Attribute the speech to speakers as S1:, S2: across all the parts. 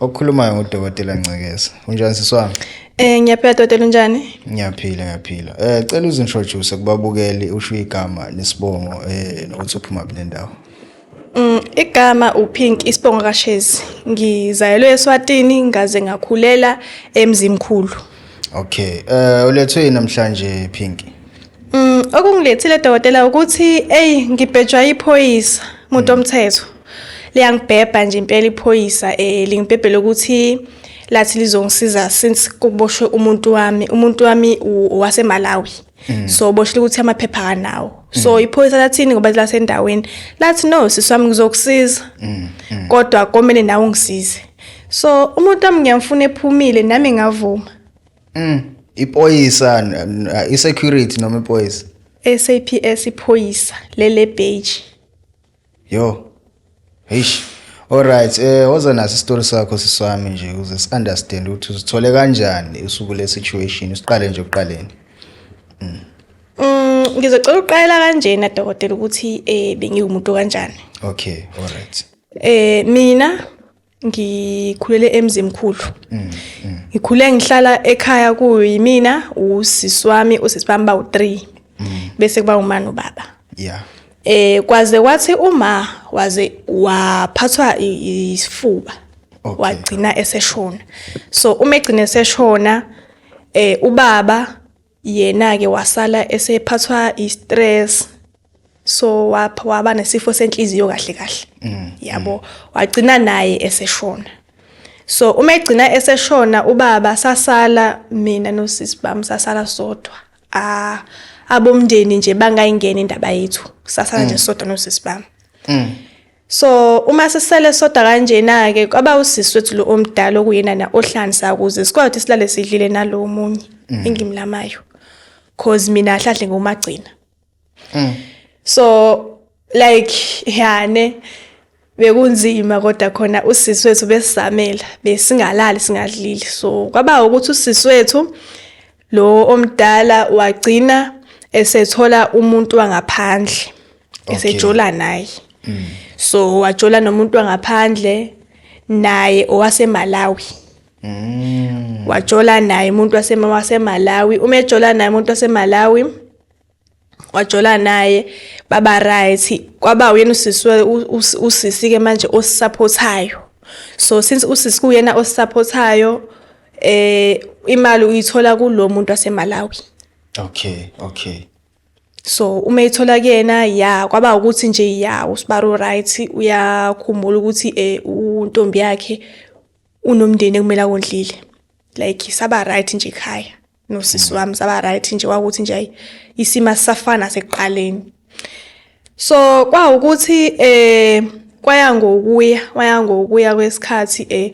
S1: Okukhulumayo ngudokotela Ncekeza. Unjani siswami? Eh ngiyaphila dokotela
S2: unjani? Ngiyaphila ngiyaphila.
S1: Eh cela uzintroduce kubabukeli usho igama nesibongo eh nokuthi uphuma kule ndawo. Mm
S2: igama uPink isibongo kaShezi. Ngizayelwe eSwatini ngaze ngakhulela eMzimkhulu. Okay.
S1: Eh ulethwe namhlanje Pinky? Mm,
S2: okungilethile dokotela ukuthi eyi ngibhejwa iphoyisa muntu mm. omthetho liyangibhebha nje impela iphoyisa eh lingibhebhele ukuthi lathi lizongisiza since kuboshwe umuntu wami umuntu wami waseMalawi mm. so boshile ukuthi amaphepha kanawo so mm. iphoyisa lathini ngoba lasendaweni lathi no siswami ngizokusiza kodwa komele nawe ungisize so umuntu wami ngiyamfuna ephumile nami ngavuma Mm. Ipoyisa
S1: isecurity noma ipoyisa? SAPS
S2: iphoyisa lele page. Yo.
S1: Eish. Alright, eh woza naso isitori sakho siswami nje ukuze si understand ukuthi uzithole kanjani usuku le situation, usiqale nje uqaleni. Mm. Mm,
S2: ngizocela uqala kanjena dokotela ukuthi eh bengiwumuntu kanjani. Okay,
S1: alright. Eh mina
S2: ngikhulele emzimkhulu mm, mm. ngikhule ngihlala ekhaya kuyimina usisi wami usisi bami bawu-3 mm. bese kuba umani ubaba yeah
S1: eh kwaze
S2: kwathi uma waze waphathwa isifuba okay. wagcina eseshona so uma egcina eseshona eh ubaba yena-ke wasala esephathwa i-stress so waba nesifo senhliziyo kahle kahle mm, yabo mm. wagcina naye eseshona so uma egcina eseshona ubaba sasala mina nosisi bami sasala sodwa ah abomndeni nje bangayingena indaba yethu sasala nje mm. sodwa nosisi bami so uma sisele soda kanjena-ke kwaba usisi wethu lo omdala okuyenana ohlansa ukuze sikwazi ukuthi silale sidlile nalo omunye mm. engimlamayo cause mina ahlahle ngomagcina mm. so like yane yeah, bekunzima kodwa khona usisi wethu besisamela besingalali singadlile so kwaba ukuthi usisi wethu lo omdala wagcina esethola umuntu wangaphandle esejola naye mm. so wajola nomuntu wangaphandle naye owasemalawi mm. wajola naye umuntu wasemalawi uma ejola naye umuntu wasemalawi wajola naye baba right kwaba uyena usisi usisi ke manje osisupportayo so since usisi kuyena osisupportayo eh imali uyithola kulomuntu waseMalawi okay
S1: okay
S2: so uma ithola kuyena ya kwaba ukuthi nje ya usibaro right uyakhumbula ukuthi eh untombi yakhe unomndeni ekumele akondlile like saba right nje ekhaya nosisi wami saba right nje kwakuthi nje ayi isimo asisafana sekuqaleni so kwawukuthi eh kwaya ngokuya waya ngokuya kwesikhathi eh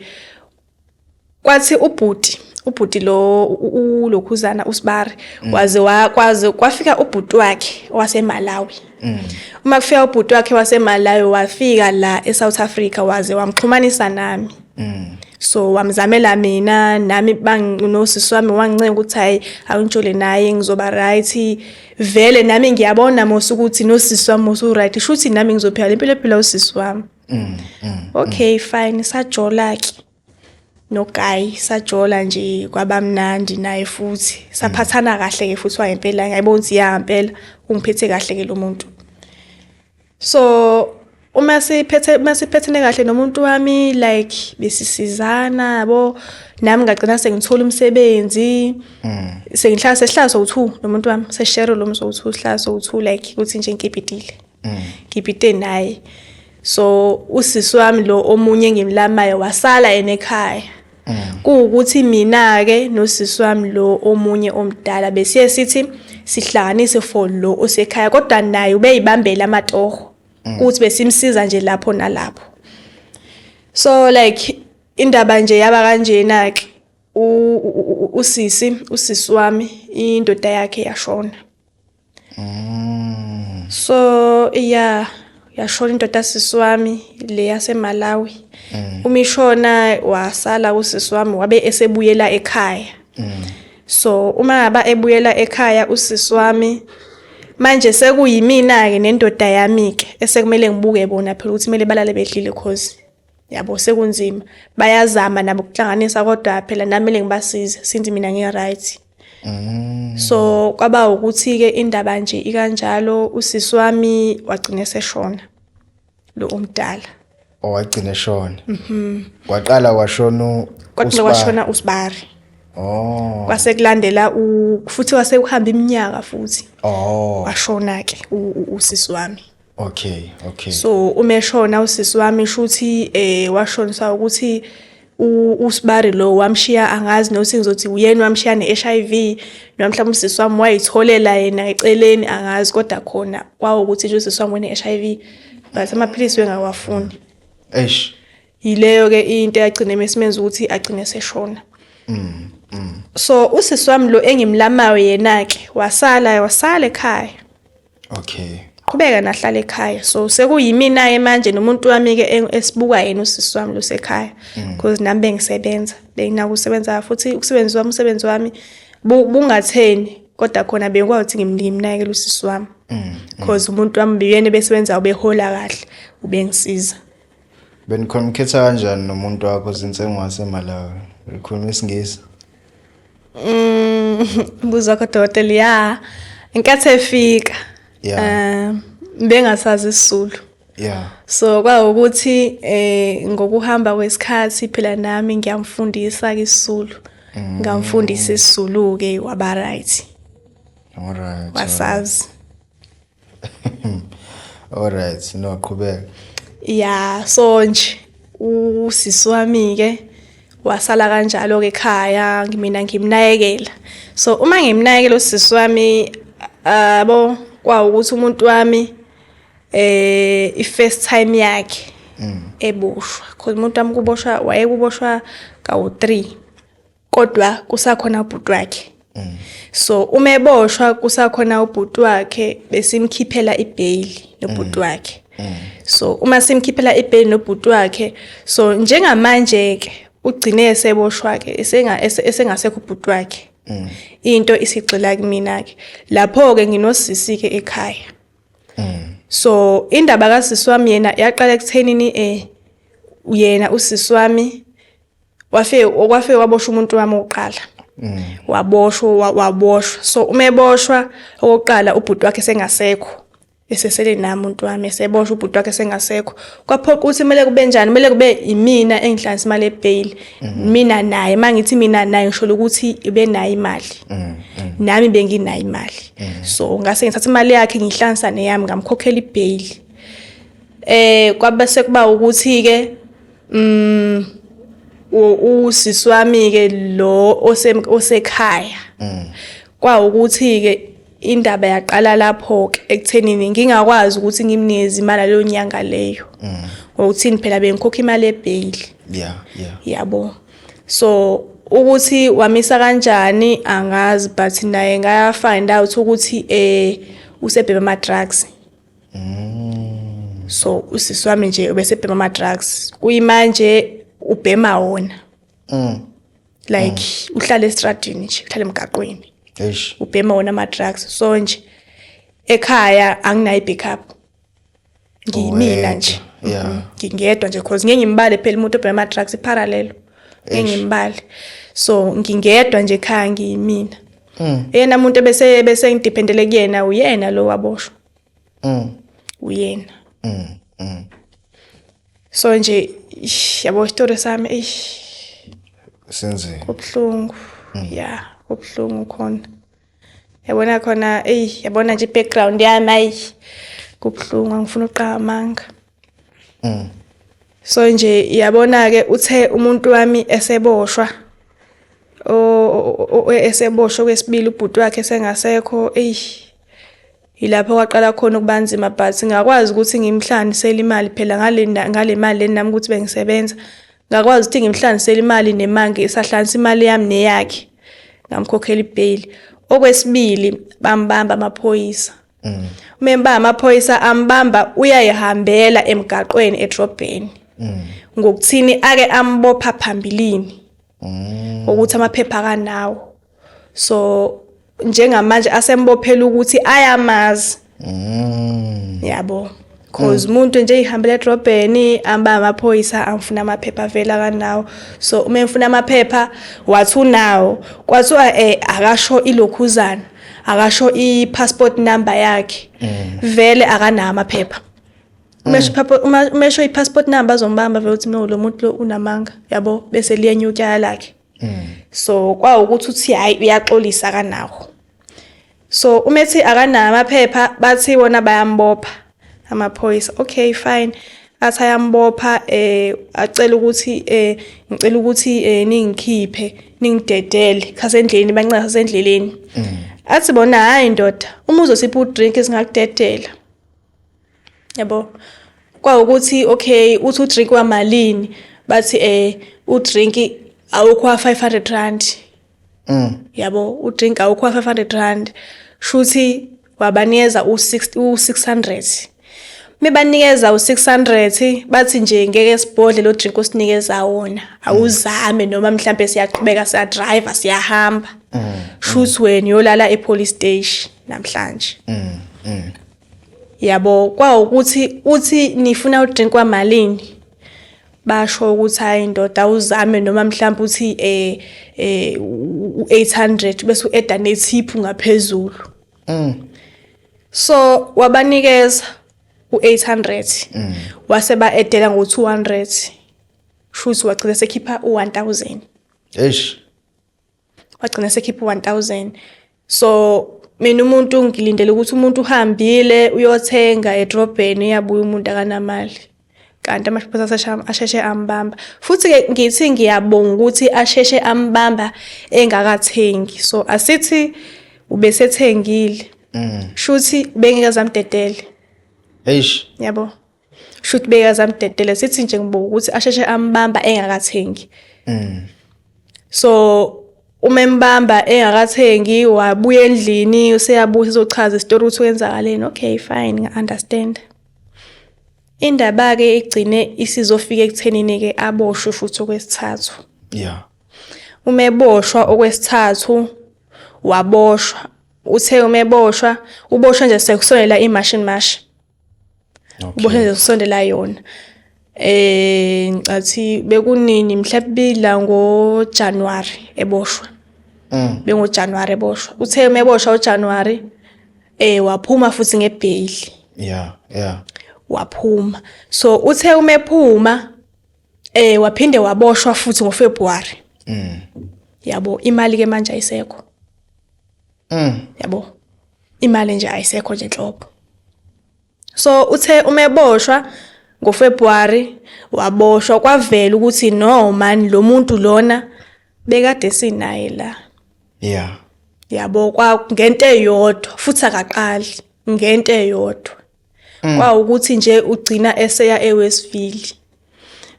S2: kwathi ubhuti ubhuti lo ulokhuzana usibari mm. waze wakwaze kwafika ubhuti wakhe waseMalawi mm. uma kufika ubhuti wakhe waseMalawi wafika la eSouth Africa waze wamxhumanisa nami Mm. so wamzamela mina nami banginosisi wami wangincenga ukuthi hayi awuntshole naye ngizoba right vele nami ngiyabona mose ukuthi nosisi wami mose uright isho ukuthi nami ngizophila le mpilo ephila usisi wami mm, mm, okay mm. fine sajola-ke nogayi sajola nje kwabamnandi naye futhi saphathana kahle-ke futhi wayempela ngiyayibona ukuthi ya mpela ungiphethe kahle-ke lo muntu so uma siphethe uma siphethene kahle nomuntu wami like besisizana yabo nami ngagcina sengithola umsebenzi mm. sengihlala sesihlala sowu-two nomuntu wami seshare lo mso sowu-two sihlala sowu-two like ukuthi nje ngikipitile mm. ngipite naye so usisi wami lo omunye engimlamayo wasala enekhaya Mm. kuwukuthi mina-ke nosisi wami lo omunye omdala besiye sithi sihlanganise for lo osekhaya kodwa naye ubeyibambela amatoho mm. ukuthi besimsiza nje lapho nalapho so like indaba nje yaba kanjena-ke usisi usisi wami indoda yakhe yashona mm. so yeah yashona indoda yasisi wami le yasemalawi mm. uma ishona wasala usisi wami wabe esebuyela ekhaya mm. so uma ngaba ebuyela ekhaya usisi wami manje sekuyimina-ke nendoda yami-ke esekumele ngibuke bona phela ukuthi kumele balale bedlile cause yabo sekunzima bayazama nabo ukuhlanganisa kodwa phela nami le ngibasize since mina ngi-right mm. so kwaba ukuthi-ke indaba nje ikanjalo usisi wami wagcine seshona lo omdala owagcine
S1: shona mhm. kwaqala kwashona kwaqala kwashona
S2: usibari Oh. Kwase kulandela u futhi wase uhamba iminyaka futhi. Oh. Washona ke usisi wami. Okay, okay.
S1: So uma
S2: eshona usisi wami shuthi eh washonisa ukuthi usibari lo wamshiya angazi nothi ngizothi uyena wamshiya ne-HIV noma mhlawumbe usisi wami wayitholela yena eceleni angazi kodwa khona kwawukuthi nje usisi wami wene-HIV but amaphilisi wengawafuni eish yileyo ke into yagcina mesimenza ukuthi agcine seshona mm, mm. so usisi wami lo engimlamayo yena ke wasala wasala ekhaya okay
S1: qhubeka nahlala
S2: ekhaya so sekuyimina-ke manje nomuntu wami-ke esibuka yena usisi wami lusekhaya because mm. nami bengisebenza benginakusebenza futhi ukusebenzi wami umsebenzi wami bungatheni kodwa khona bengikwazi ukuthi ngimnike imnakekela usisi wami mm, mm. cause umuntu wami beyena ebesebenza ubehola kahle ubengisiza
S1: Benikhonukhetha kanjani nomuntu wakho since engowaseMalawi? Ukhuluma isiNgisi?
S2: Mm, buza wakho dokotela ya inkathi efika yeah. um bengasazi isizulu yeah so kwawukuthi eh ngokuhamba kwesikhathi phela nami ngiyamfundisa isizulu mm. ngamfundisa isizulu ke waba right all
S1: right wasazi Alright, no qhubeka. Yeah,
S2: so nje usisi wami ke wasala kanjalo ke ekhaya ngimina ngimnayekela. So uma ngimnayekela usisi wami abo kwa ukuthi umuntu wami eh i first time yakhe mm. eboshwa. Cause umuntu wami kuboshwa wayekuboshwa kawu 3. kodwa kusakhona ubhuti wakhe mm. so uma eboshwa kusakhona ubhuti wakhe besimkhiphela ibheyili nobhuti mm. wakhe mm. so uma simkhiphela ibheyili nobhuti wakhe so njengamanje ke ugcine eseboshwa ke esengasekho ubhuti wakhe mm. into isigxila kumina ke lapho ke nginosisi ke ekhaya mm. so indaba kasisi wami yena yaqala ekuthenini eh uyena usisi wami wafe okwafe waboshwa umuntu wami oqala mm. waboshwa waboshwa so uma eboshwa okokuqala ubhuti wakhe sengasekho esesele nami umuntu wami eseboshwa ubhuti wakhe sengasekho kwaphoqa ukuthi kumele kube njani kumele kube imina engihlanisa imali ebail mm-hmm. mina naye mangithi mina naye ngisholo ukuthi ibe nayo imali mm-hmm. nami benginayo imali mm-hmm. so ngase ngithatha imali yakhe ngihlanisa neyami ngamkhokhela ibail eh kwabese kuba ukuthi ke Mm usisi wami ke lo osekhaya. Mm. Kwa ukuthi ke indaba yaqala lapho ke ekuthenini ngingakwazi ukuthi ngimnikeze imali leyo nyanga leyo. Mm. Ngokuthini phela bengikhokha imali ebail. Yeah, yeah. Yabo. So ukuthi wamisa kanjani angazi but naye ngaya find out ukuthi eh usebhema ama drugs mm. so usisi wami nje ubesebhema ama-drugs kuyimanje ubhema wona mm. like mm. uhlala esitradini nje uhlala emgaqweni ubhema wona ama-drugs so nje ekhaya anginayo i-backup ngiyimina nje mm-hmm. ngingedwa nje cause ngeke ngimbale phela umuntu obhema ama-drugs iparallelo ngeke ngimbale so ngingedwa nje ekhaya ngiyimina mm. yena muntu ebese bese ngidependele kuyena uyena lo waboshwa mm. uyena mm. Mm. so nje yabo story sami eish
S1: senzeni kubuhlungu
S2: mm. ya kubuhlungu khona yabona khona eyi yabona nje i-background yami ayi kubuhlungu angifuna uqamanga mm. so nje yabona-ke uthe umuntu wami eseboshwa eseboshwe kwesibili ubhuti wakhe esengasekho eyi yilapho kwaqala khona ukuba nzima but ngakwazi ukuthi ngimhlanisele imali phela ngale mali leni nami ukuthi bengisebenza ngakwazi ukuthi ngimhlanisele imali nemange isahlanisa imali yami neyakhe ngamkhokhela ibheyili okwesibili bambamba amaphoyisa mm. umemba amaphoyisa ambamba uyayihambela emgaqweni edrobheni mm. ngokuthini ake ambopha phambilini mm. ukuthi amaphepha kanawo so njengamanje asembophela ukuthi ayamazi mm. yabo cause mm. umuntu nje ihambela edrobheni amba amaphoyisa angifuna amaphepha avela kanawo so uma ngifuna amaphepha wathi unawo kwathiwa eh akasho ilokhuzana akasho i-passport number yakhe mm. vele akanawo amaphepha umesho mm. umesho i-passport number azombamba vele uthi no lo muntu lo unamanga yabo bese liyenyuka lakhe so kwawukuthi uthi hayi uyaxolisa kanawo so uma ethi akanayo amaphepha bathi wona bayambopha amaphoyisa okay fine athi ayambopha eh acela ukuthi eh ngicela ukuthi eh ningikhiphe ningidedele khasendleleni bancaza sendleleni mm. athi bona hayi ndoda uma uzosipha udrink singakudedela yabo kwawukuthi okay uthi udrink wamalini bathi eh udrink awukho 500 rand mm. yabo udrinka awukho wa-five hundred rand shuthi wabanikeza u-six hundred mebanikeza u-six hundred bathi nje ngeke sibhodle lo drink osinikeza wona awuzame noma mhlawumbe siyaqhubeka siyadriver siyahamba mm. shuthi wena uyolala e-police station namhlanje mm, mm. yabo kwawukuthi uthi nifuna udrink kwamalini basho ukuthi hayi ndoda awuzame noma mhlawumbe uthi eh eh u800 bese ueda nethiphu ngaphezulu mm so wabanikeza u800 mm. wase ba edela ngo200 shuthi wagcina sekhipha u1000 eish wagcina sekhipha 1000 so mina umuntu ngilindele ukuthi umuntu uhambile uyothenga edrobheni uyabuya umuntu akanamali kanti amashophosa asheshe ambamba futhi-ke ngithi ngiyabonga ukuthi asheshe ambamba engakathengi so asithi ubesethengile mm. shuthi bengeke zamdedele eish yabo shuthi bekazamdedela sithi nje ngibuka ukuthi asheshe ambamba engakathengi mm. so uma embamba engakathengi wabuya endlini useyabuya uzochaza isitori ukuthi kwenzakaleni okay fine ngi-understand indaba-ke igcine isizofika ekuthenini-ke aboshwe futhi okwesithathu ya uma eboshwa okwesithathu waboshwa uthe uma eboshwa uboshwa nje sekusonela imashini mashi okay. ubona usondela yona eh ngicathi bekunini mhlabila ngo January eboshwa mm. bengo January eboshwa uthe meboshwa u January eh waphuma futhi ngebail yeah yeah waphuma so uthe umephuma eh waphinde waboshwa futhi ngo February mm yabo imali ke manje ayisekho Mm. Yabo. Imali nje ayisekho nje nhlobo. So uthe uma eboshwa ngoFebruary waboshwa kwavela ukuthi no man lo muntu lona bekade sinaye la. Yeah. Yabo kwa ngento eyodwa futhi akaqali ngento eyodwa. Mm. Kwawukuthi nje ugcina eseya eWestville.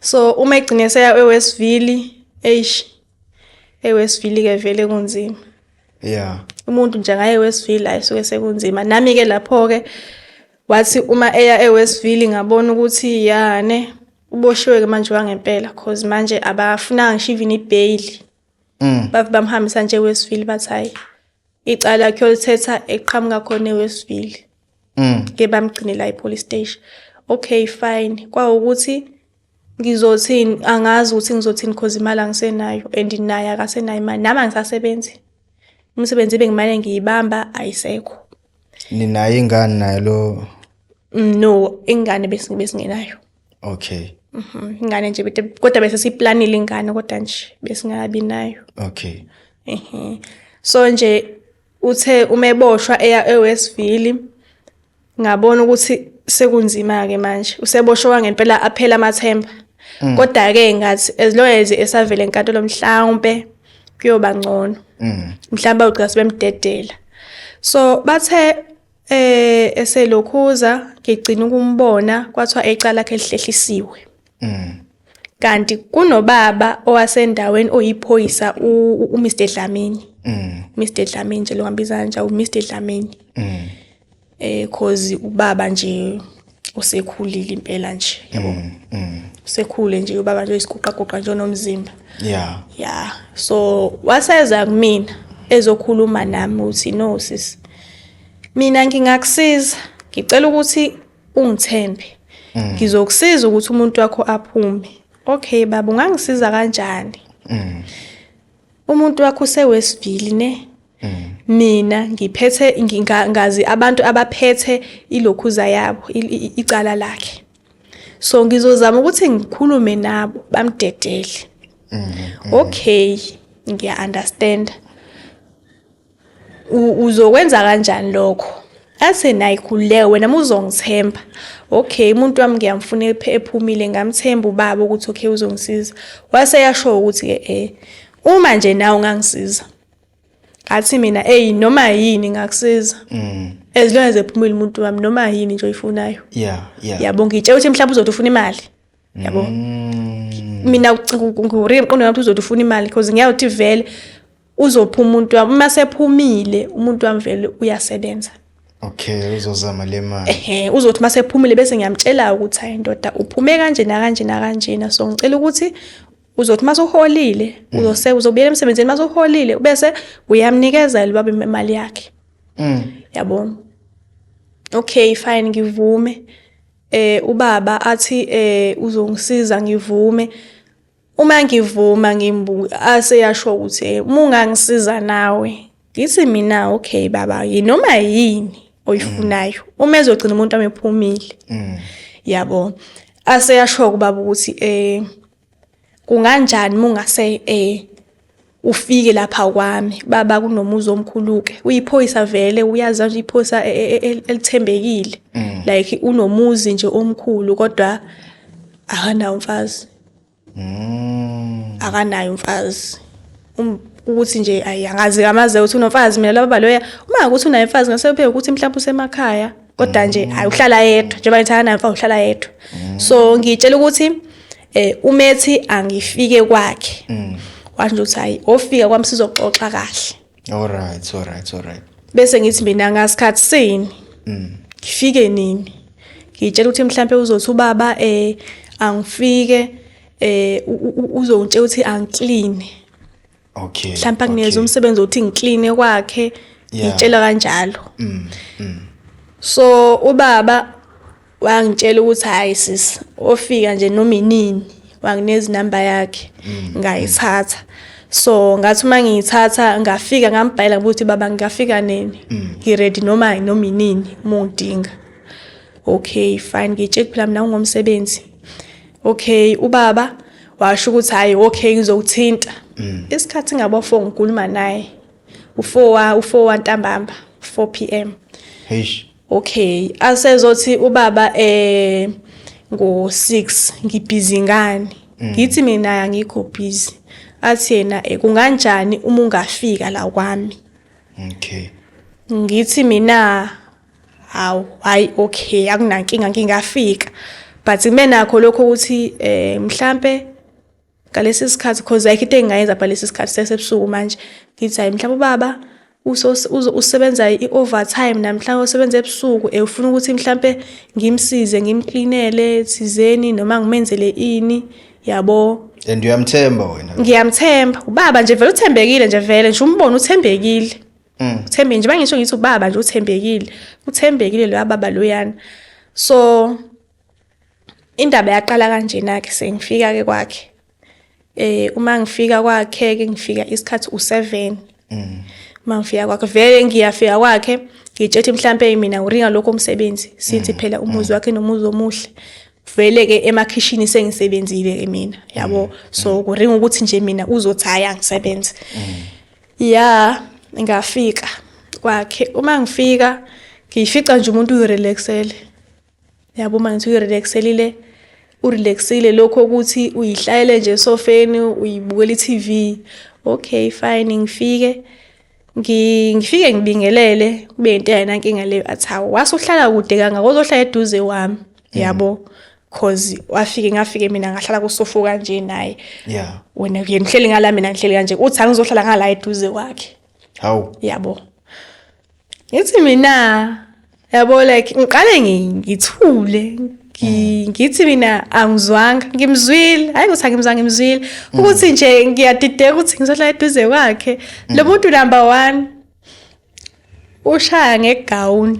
S2: So uma egcina eseya eWestville eish Eyi wesivile-ke vele kunzima. Yeah. Umuntu nje ngaye wesivile hayi suke sekunzima. Nami-ke lapho-ke wathi uma eya ewesivile ngabona ukuthi yane uboshiwe-ke manje wangempela cause manje abafunanga ngisho even ibheyili. Mm. Bathi bamhambisa nje ewesivile bathi hhayi icala lakhe olithetha eqhamuka khona ewestville mm. ke bamgcinela ipolice station okay fine kwawukuthi ngizothini angazi ukuthi ngizothini cause imali angisenayo and naye akasenayo imali nami angisasebenzi umsebenzi bengimane ngiyibamba ayisekho ninayo
S1: ingane naye lo mm, no
S2: ingane besingenayo okay
S1: Mhm, ingane
S2: nje bete- kodwa bese siyiplanile ingane kodwa nje besingakabi nayo okay
S1: Ehhe.
S2: so nje uthe uma eboshwa eya ewestville ngabona ukuthi sekunzima-ke manje useboshwa wangempela aphela amathemba kodwa-ke ngathi as long as esavele enkantolo mhlawumpe kuyoba ngcono mm. mhlawumbe ugcina sebemdedela so bathe Eh eselokhuza ngigcina ukumbona kwathiwa ecala lakhe lihlehlisiwe. Mm. Kanti kunobaba owasendaweni oyiphoyisa uMr Dlamini. Mm. Mr Dlamini nje lo ngambiza kanje uMr Dlamini. Mm. Eh cause ubaba nje usekhulile impela nje yabo mm, mm. usekhule nje ubaba nje isiguqaguqa nje onomzimba yeah yeah so waseza kumina ezokhuluma nami uthi no sis mina ngingakusiza ngicela ukuthi ungithembe mm. ngizokusiza ukuthi umuntu wakho aphume okay baba ungangisiza kanjani umuntu wakho usewesivili ne mm. mina ngiphethe ngazi abantu abaphethe ilokhuza yabo icala lakhe so ngizozama ukuthi ngikhulume nabo bamdedele mm, mm. okay ngiya understand uzokwenza kanjani lokho ase naye khululeke wena muzongithemba okay umuntu wami ngiyamfuna ephumile ngamthemba ubaba ukuthi okay uzongisiza wase yasho ukuthi ke eh uma nje nawe ungangisiza athi mina hey noma yini ngakusiza mm. as long as ephumile umuntu wami noma yini nje oyifunayo yeah yeah yabonga itshela ukuthi mhlawumbe uzothi ufuna imali yabo mm. mina ngurire mqondo wami uzothi ufuna imali because ngiyawuthi vele uzopha umuntu wami uma sephumile umuntu wami vele uyasebenza okay
S1: uzozama le mali ehe uzothi uma sephumile bese
S2: ngiyamtshela ukuthi hayi ndoda uphume kanje nakanje nakanjena so ngicela ukuthi uzothi uma soholile mm. uzose uzobuyela emsebenzini uma soholile bese uyamnikeza libaba imali yakhe mm. yabo okay fine ngivume eh ubaba athi eh uzongisiza ngivume uma ngivuma ngimbu aseyasho ukuthi eh, uma ungangisiza nawe ngithi mina okay baba yinoma yini oyifunayo mm. uma ezogcina umuntu amephumile mm. yabo aseyasho kubaba ukuthi eh Kunganjani mungase eh ufike lapha kwami baba kunomuzi omkhuluke uyiphoyisa vele uyazi nje iphoyisa e, e, e, elithembekile mm. like unomuzi nje omkhulu kodwa akanawo mfazi mm. akanayo mfazi Um, ukuthi nje ayi angazi kamaze ukuthi unomfazi mina laba loya uma ukuthi unaye mfazi ngase upheke ukuthi mhlawumbe usemakhaya kodwa nje mm. ayi uhlala yedwa njengoba ngithanda naye mfazi uhlala yedwa mm. so ngitshela ukuthi eh umethi angifike kwakhe mm. washo ukuthi hayi ofika kwami sizoxoxa kahle all right all right all
S1: right bese ngithi
S2: mina ngasikhathi sini ngifike nini ngitshela ukuthi mhlawumbe uzothi ubaba eh angifike eh uzongitshela ukuthi angiclean okay
S1: mhlawumbe angiyeza
S2: umsebenzi othi ngiclean kwakhe ngitshela kanjalo mm, mm. so ubaba wangitshela ukuthi hayi sis ofika nje noma inini wanginezi number yakhe mm, ngayithatha so ngathi uma ngiyithatha ngafika ngambhayela ukuthi baba ngingafika nini ngi ready noma noma inini uma ungidinga okay fine ngitsheke phela mina ngingomsebenzi okay ubaba washo ukuthi hayi okay ngizokuthinta mm. isikhathi ngabo 4 ngikhuluma naye u4 u4 ntambamba 4 pm heish okay asezothi ubaba eh ngo 6 ngibhizi ngani mm. ngithi mina angikho busy athi yena eh, kunganjani uma ungafika la kwami
S1: okay ngithi
S2: mina hawu hayi okay akunankinga ngingafika but kube nakho lokho ukuthi eh mhlambe ngalesi sikhathi because ayikho into engingayenza but lesi sikhathi sesebusuku manje ngithi hayi mhlawumbe ubaba usebenza i-overtime namhlawumbe usebenza ebusuku eh, ufuna ukuthi mhlawumbe ngimsize ngimklinele thizeni noma ngimenzele ini yabo and uyamthemba
S1: wena ngiyamthemba ubaba
S2: nje vele uthembekile nje vele nje umbona uthembekile mm. uthembe nje bangisho ngithi ubaba nje uthembekile uthembekile loya baba loyana so indaba yaqala kanjena ke sengifika ke kwakhe eh uma ngifika kwakhe ke ngifika isikhathi u7 mm. uma ngifika kwakhe vele ngiyafika kwakhe ngitshethi mhlambe mina uringa lokho umsebenzi sithi mm. phela umuzi mm. wakhe nomuzi omuhle vele ke emakhishini sengisebenzile ke mina yabo mm. so kuringa ukuthi nje mina uzothi hayi angisebenze mm. ya ngafika kwakhe uma ngifika ngiyifica nje umuntu uyirelaxele yabo uma ngithi uyirelaxelile urelaxile lokho ukuthi uyihlayele nje esofeni uyibukela i-tv okay fine ngifike ngifike ngibingelele kube into yayinankinga leyo athi hawu wase uhlala kude kangaka ozohlala eduze wami yabo cause wafike ngafike mina ngahlala kusofu kanje naye yeah wena yena ngihleli ngala mina ngihleli kanje uthi angizohlala ngala eduze kwakhe hawu yabo ngithi mina yabo like ngiqale ngithule mm. ngithi mina angizwanga ngimzwile hayi ukuthi angimzwanga ngimzwile mm. ukuthi nje ngiyadideka ukuthi ngizohlala eduze kwakhe lo mm. muntu number one ushaya ngegown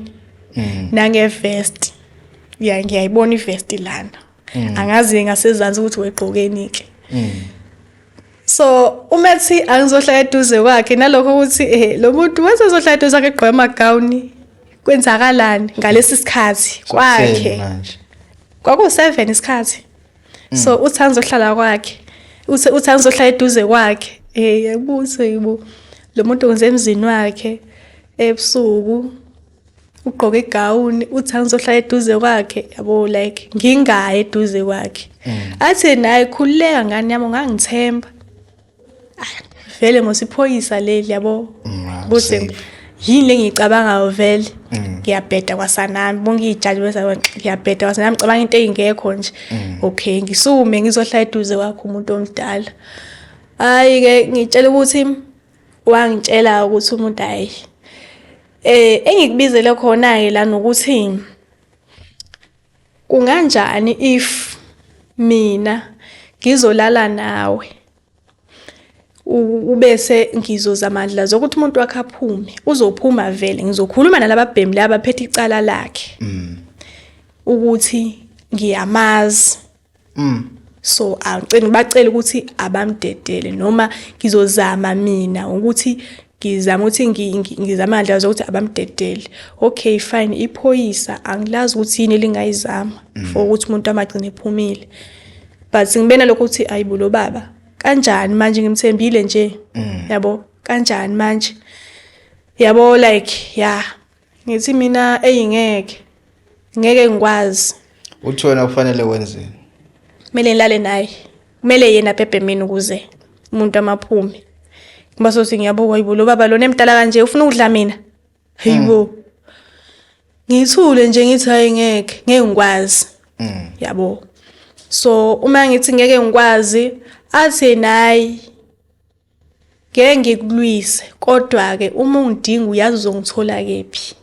S2: mm. nangevest ya ngiyayibona ivest lana mm. angazi ngasezansi ukuthi wegqokeni ke mm. so uma ethi angizohlala eduze kwakhe nalokho ukuthi eh lo muntu wasezohlala eduze kwakhe egqoke amagawuni kwenzakalani ngalesi sikhathi kwakhe kwaku-seven isikhathi mm. so uthi angizohlala kwakhe uthi uthi angizohlala eduze kwakhe eh yabuze yibo lo muntu ngenze emzini wakhe ebusuku ugqoke igawuni uthi angizohlala eduze kwakhe yabo like ngingayi eduze kwakhe mm. athi naye khululeka ngani yami ungangithemba vele mosiphoyisa leli yabo bose yini lengiyicabangayo vele mm. ngiyabheda kwasanami bonke iyijaji bese ngiyabheda kwasanami cabanga into engekho nje mm. okay ngisume ngizohlala eduze kwakho umuntu omdala hayi ke ngitshela ukuthi wangitshela ukuthi umuntu hayi eh engikubizele khona ke la nokuthi Kunganjani if mina ngizolala nawe ubese ngizoza amandla zokuthi umuntu wakhe aphume uzophuma vele ngizokhuluma nalababhemi laba phethe icala lakhe mm. ukuthi ngiyamazi mm. so angicela bacela ukuthi abamdedele noma ngizozama mina ukuthi ngizama ukuthi ngizama ngandlela zokuthi abamdedele okay fine iphoyisa angilazi ukuthi yini elingayizama mm. for ukuthi umuntu amagcine ephumile but ngibena lokho ukuthi ayibo lo baba kanjani manje ngimthembile nje mm. yabo kanjani manje yabo like yeah Ngithi mina eyi ngeke. Ngeke ngikwazi. Uthi
S1: wena kufanele wenzeni? Kumele ngilale
S2: naye. Kumele yena bhebhe mina ukuze umuntu amaphume. Ngoba sothi ngiyabukwa yibo lo baba lona emdala kanje ufuna ukudla mina. Hayibo. Mm. Ngithule nje ngithi hayi ngeke, ngeke ngikwazi. Mm. Yabo. So uma ngithi ngeke ngikwazi athi nayi ngeke ngikulwise kodwa-ke uma ungidinga uyazi uzongithola kephi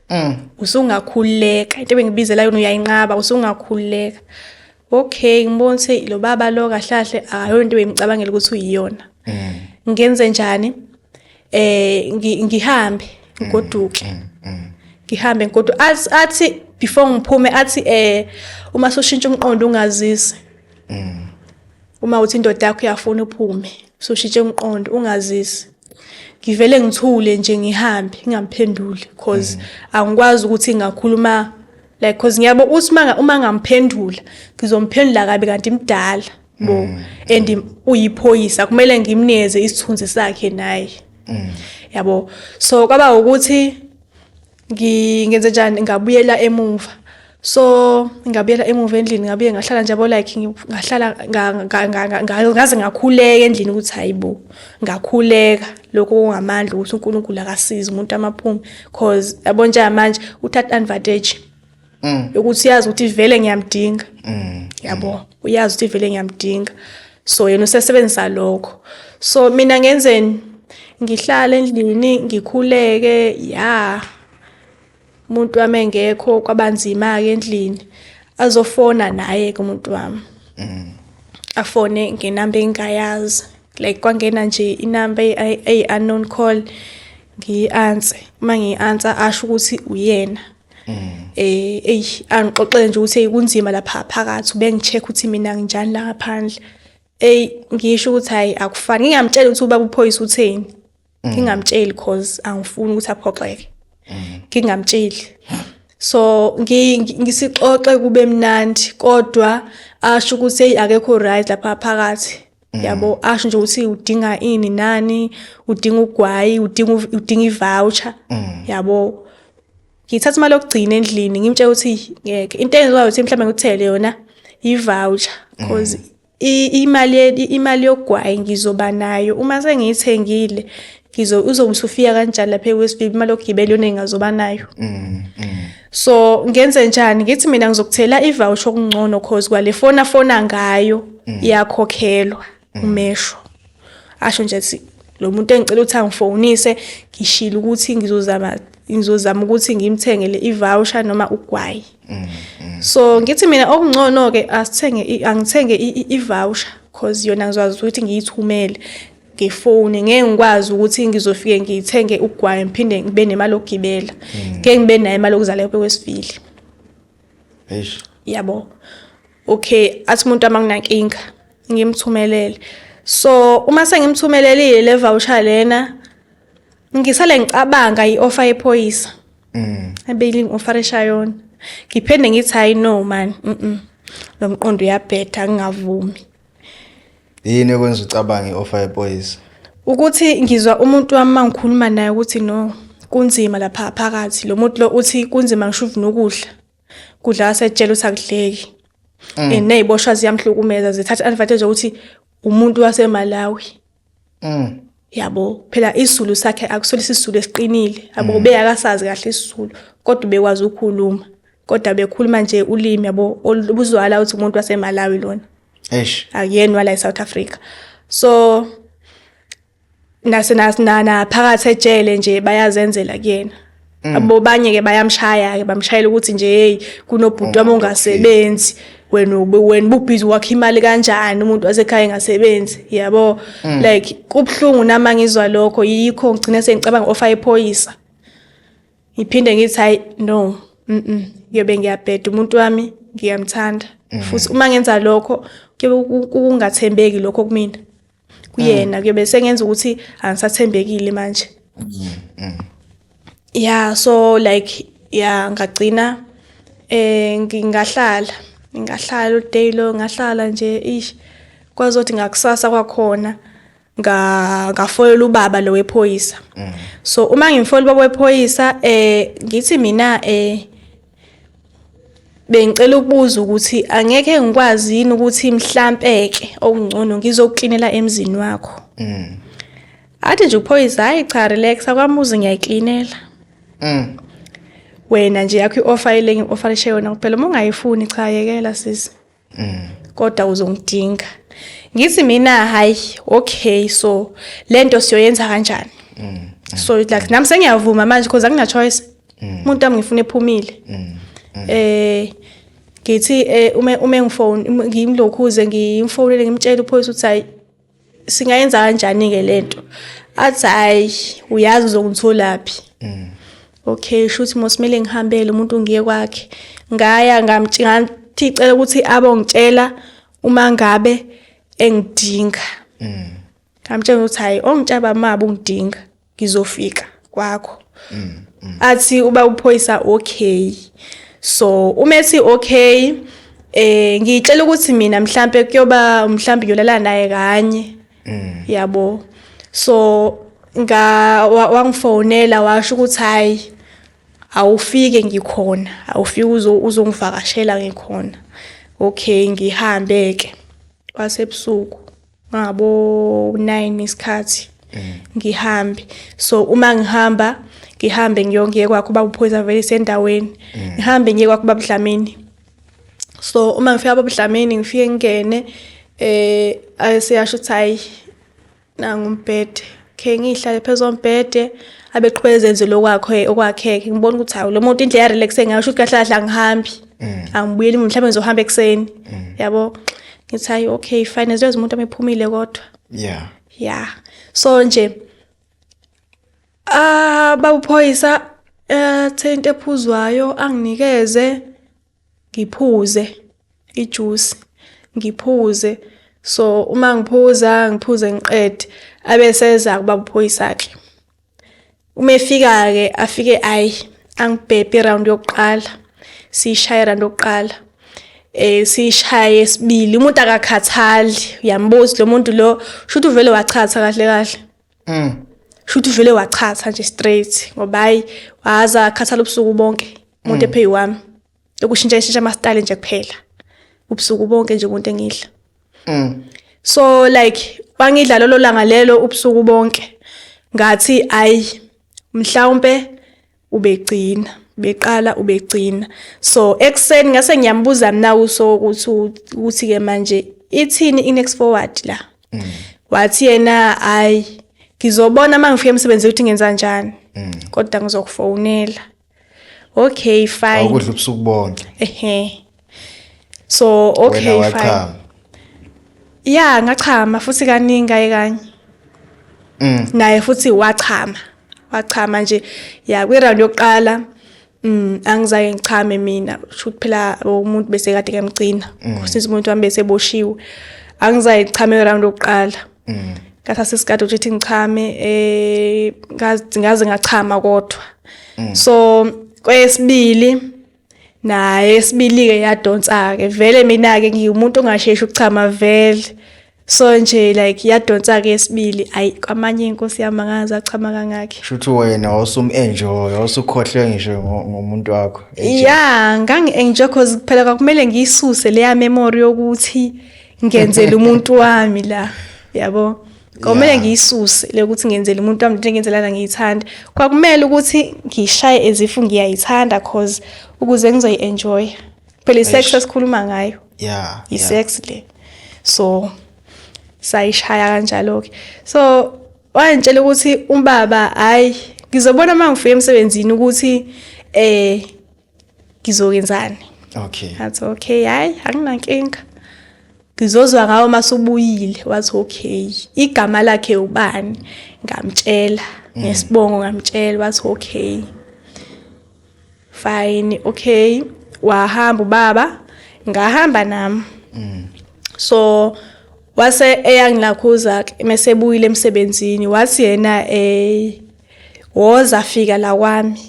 S2: mm. usungakhululeka into ebengibizela yona uyayinqaba usungakhululeka okay ngibona ukuthi lo baba lo kahlahle akayona into ebengicabangela ukuthi uyiyona mm. ngenze njani eh ngihambe mm, ngoduke ngihambe kodwa athi before ngiphume athi eh uma soshintsha umqondo ungazisi uma uthi indoda yakho uyafuna uphume usushitshe umqondo ungazisi ngivele ngithule nje ngihambe ngingamphenduli cause mm. angikwazi ukuthi ngakhuluma like cause ngiyabo uthi uma uma ngamphendula ngizomphendula kabi kanti imdala bo mm. and uyiphoyisa kumele ngimneze isithunzi sakhe naye mm. yabo so kwaba ukuthi ngingenze njani ngabuyela emuva so ngabuyela emuva endlini ngabuye ngahlala nje yabo like ngahlala ngaze ngakhuleka endlini ukuthi hayi bo ngakhuleka lokho kungamandla ukuthi unkulunkulu akasize umuntu amaphume cause yabo nje manje uthatha advantage mm. ukuthi uyazi ukuthi vele ngiyamdinga mm. yabo mm. uyazi ukuthi vele ngiyamdinga so yena usesebenzisa lokho so mina ngenzeni ngihlale endlini ngikhuleke ya umuntu wami engekho kwabanzima ke endlini azofona naye ke umuntu wami mm. afone ngenamba engayazi like kwangena nje inamba eyi unknown call ngiyi-answer uma ngiyi-answer asho ukuthi uyena eh ey angixoxele nje ukuthi kunzima lapha phakathi ubengicheck ukuthi mina nginjani la ngaphandle ey ngisho ukuthi hayi akufani ngingamtshela ukuthi ubaba uphoyisa utheni mm. ngingamtsheli cause angifuni ukuthi aphoxeke mm. ngingamtsheli so ngisixoxe kube mnandi kodwa asho ukuthi hey akekho right lapha phakathi Mm. yabo asho nje ukuthi udinga ini nani udinga ugwayi udinga udinga ivoucher mm. yabo ngithatha imali yokugcina endlini ngimtshela ukuthi ngeke into enziwayo ukuthi mhlawumbe ngikuthele yona ivoucher mm. cause imali imali yogwayi ngizoba nayo uma sengiyithengile ngizo uzobe usufika kanjani lapha eWest View imali yokugibela yona engazoba nayo mm, mm. so ngenze njani ngithi mina ngizokuthela ivoucher okungcono cause kwale fona fona ngayo mm. iyakhokhelwa mm. umesho asho nje athi lo muntu engicela ukuthi angifonise ngishilo ukuthi ngizozama ngizozama ukuthi ngimthengele ivoucher noma ugwayi mm, mm. so ngithi mina okungcono ke asithenge angithenge ivoucher cause yona ngizwazi ukuthi ngiyithumele ngefoni ngeke ngikwazi ukuthi ngizofike ngithenge ugwayi ngiphinde ngibe nemali yokugibela hmm. ngeke ngibe nayo imali yokuzala yobe kwesivili eish yabo okay athi umuntu amanginankinga ngimthumelele so uma sengimthumelelile le voucher lena ngisale ngicabanga i-offer yephoyisa mm. abeyiling offer eshayona ngiphende ngithi hayi no man mm lo mqondo uyabhetha ngingavumi
S1: Yini ekwenza ucabange i-offer yephoyisa? Ukuthi
S2: ngizwa umuntu wami uma ngikhuluma naye ukuthi no kunzima lapha phakathi. Lo muntu lo uthi kunzima ngisho uvuna ukudla. Kudla wasetshela ukuthi akudleki. Mm. And ney'boshwa ziyamhlukumeza zithatha advantage yokuthi umuntu waseMalawi. Mm. Yabo phela isizulu sakhe akusona isizulu esiqinile. Yabo mm. beyakasazi kahle isizulu kodwa ubekwazi ukukhuluma. Kodwa bekhuluma nje ulimi yabo olubuzwala ukuthi umuntu waseMalawi lona. eish akuyeni wala eSouth Africa so nase nasinana phakathi ejele nje bayazenzela kuyena mm. abo banye ke bayamshaya ke bamshayela ukuthi nje hey kunobhuti wami oh, ongasebenzi wena wena ubhizi wakhe imali kanjani umuntu wasekhaya engasebenzi yabo mm. like kubhlungu nama ngizwa lokho yikho ngigcine sengicabanga ofa ephoyisa ngiphinde ngithi hayi no mhm ngiyobe ngiyabheda umuntu wami ngiyamthanda mm. futhi uma ngenza lokho kuyobe kungathembeki lokho kumina kuyena mm. kuyobe sengenza ukuthi angisathembekile manje mm, yeah so like yeah ngagcina eh ngingahlala ngingahlala uday lo ngahlala nje ish kwazothi ngakusasa kwakhona nga ngafolela ubaba lo wephoyisa mm. so uma ngimfola ubaba wephoyisa eh ngithi mina eh bengicela ukubuza ukuthi angeke ngikwazi yini ukuthi mhlampeke okungcono ngizokuklinela emzini wakho mm. athi nje uphoyisa hayi cha relax akwamuzi ngiyayiklinela mm. wena nje yakho i-offer ile ngi-offerishe yona kuphela uma ungayifuni cha yekela sisi mm. kodwa uzongidinga ngithi mina hayi okay so lento siyoyenza kanjani mm. mm. so like nami sengiyavuma manje because akuna choice mm. umuntu wami ngifuna ephumile mm. mm. eh ngithi eh, uma uma ngifone ngimlokhuze ngimfonele ngimtshela uphoyisa ukuthi hayi singayenza kanjani-ke le nto athi hhayi uyazi uzongitholaphi mm. okay sho ukuthi mosimele ngihambele umuntu ngiye kwakhe ngaya ngathi cela ukuthi abongitshela uma ngabe engidinga mm. ngamtshela ukuthi hhayi ongitshaba maba ungidinga ngizofika kwakho mm, mm. athi uba uphoyisa okay so uma ethi okay eh ngiyitshela ukuthi mina mhlambe kuyoba mhlambe ngiyolala naye kanye mm. yabo so nga wangifonela washo ukuthi hayi awufike ngikhona awufike uzongivakashela ngikhona okay ngihambe ke kwasebusuku ngabo 9 isikhathi mm. ngihambe so uma ngihamba ngihambe ngiyongiye kwakho baba uphoyisa vele sendaweni mm. ngihambe ngiye kwakho baba Dlamini so uma ngifika baba Dlamini ngifike ngene eh aseyasho ukuthi hayi nangu umbhede khe ngihlale phezu kombhede abeqhubeka ezenze lokwakho okwakhe ngibona ukuthi hawu lo muntu indlela relaxe ngayo ukuthi kahle kahle angihambi mm. angibuyeli mhlawumbe ngizohamba ekuseni mm. yabo ngithi hayi okay fine ziyoze umuntu amephumile kodwa yeah yeah so nje ah babuphoyisa eh thente ephuzwayo anginikeze ngiphuze ijuice ngiphuze so uma ngiphuza ngiphuze ngiqede abe seza kuba uphoyisakhe uma efika ke afike ayi angibhebhe round yokuqala sishaye round yokuqala eh sishaye sibili umuntu akakhathali uyambuza lo muntu lo shuthi uvele wachatha kahle kahle mm. shuthi uvele wachatha nje straight ngoba hayi waza akhathala ubusuku bonke umuntu mm. epheyi wami lokushintsha ishintsha amastyle nje kuphela ubusuku bonke nje umuntu engidla mm. so like wangidla lolo langa lelo ubusuku bonke ngathi ayi mhlawumbe ubegcina beqala ubegcina so ekuseni ngase ngiyambuza mina uso ukuthi ukuthi ke manje ithini inext forward la mm. wathi yena hayi ngizobona uma ngifika emsebenzini ukuthi ngenza kanjani mm. kodwa ngizokufonela okay
S1: fine
S2: awukudla ubusuku
S1: bonke
S2: ehe so okay fine
S1: ya
S2: ngachama futhi kaningi kaye kanye mm. naye futhi wachama wachama nje ya kwi-round yokuqala Mm angizange ngichame mina shuthi phela umuntu bese kade kemgcina mm. since umuntu wami bese boshiwe angizange ngichame round lokuqala mm. ngathatha isikade ukuthi ngichame eh ngaze ngachama kodwa mm. so kwesibili naye sibilike yadonsa-ke vele mina-ke ngiwumuntu ongasheshi ukuchama vele so nje like yadonsa-ke yesibili ayi kwamanye inkosi yami angazi achama kangakhe shuthi wena
S1: wawusum-enjoy wawusukhohlwe ngisho ngomuntu wakho ya
S2: ngangi-enjoy cause kuphela kwakumele ngiyisuse leya memory yokuthi ngenzele umuntu wami la yabo Komele yeah. ngiyisuse le ukuthi ngenzele umuntu wami into engenzelana ngiyithanda. Kwakumele ukuthi ngishaye ezifu ngiyayithanda cause ukuze ngizoyi-enjoy. Phela i-sex esikhuluma ngayo. Yeah. I-sex yeah. le. So sayishaya kanjalo ke. So wangitshela ukuthi umbaba hayi ngizobona uma ngifika emsebenzini ukuthi eh ngizokenzani okay athi okay hayi anginankinga ngizozwa ngawo masubuyile wathi okay igama lakhe ubani ngamtshela mm. ngesibongo ngamtshela wathi okay fine okay wahamba ubaba ngahamba nami mm. so wase eyangilakhuza mesebuyile emsebenzini wathi yena eh woza fika la kwami